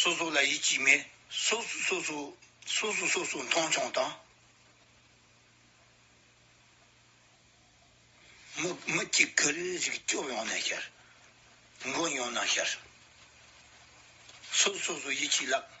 སོ་སོ་ལ་ཡིད་ཀྱིས་མེད། སོ་སོས་སོ་སོ། སོ་སོས་སོ་སོ་མཐོང་ཆུང་དང། མི་མི་གཅིག་གི་རིགས་རིགས་སྐྱོབ་ཡོང་ན་ཤར། མགོན་ཡོང་ན་ཤར། སོ་སོས་སོ་སོ་ཡིད་ཀྱིས་བརླབས།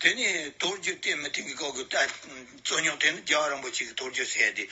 དེ་ནས་རྡོ་རྗེ་བརྟན་མི་བརྟན་གྱི་སྐབས་ཀྱི་རྩོད་རྙོག་དེ་ནི་རྒྱ་གར་རིན་པོ་ཆེ་གིས་རྡོ་རྗེ་སྲས་དེ་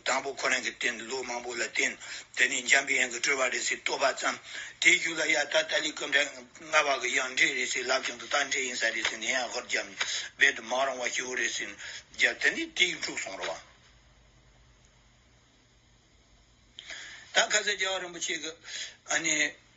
དང་པོ་ཁོ་རང་གིས་བསྟེན་ལོ་མང་པོ་ལ་བསྟེན། དེ་ནས་འཇམ་དཔལ་དབྱངས་ཀྱིས་སྤྲུལ་པ་རེ་ཟིག་བསྟོད་པ་བརྩམས། དེའི་རྒྱུད་ལ་ཡང་ད་ལྟ་ལས་སྐུ་འདྲ་ལྔ་བ་གི་ཡང་འབྲས་རེ་ཟིག་ལབ་ཀྱང་དུ་རྟགས་འབྲས་ཡིན་ས་རེ་ཟིག་ནས་ཡང་ཧོར་རྒྱབ་ནས་རྦད་དུ་མ་རུང་བ་སྐྱེ་བོ་རེ་ཟིག་བརྒྱབ་དེ་ནས་དེའི་འབྲུག་སོང་རོ། ད་ག་ས་རྒྱ་གར་རིན་པོ་ཆེ་གིས།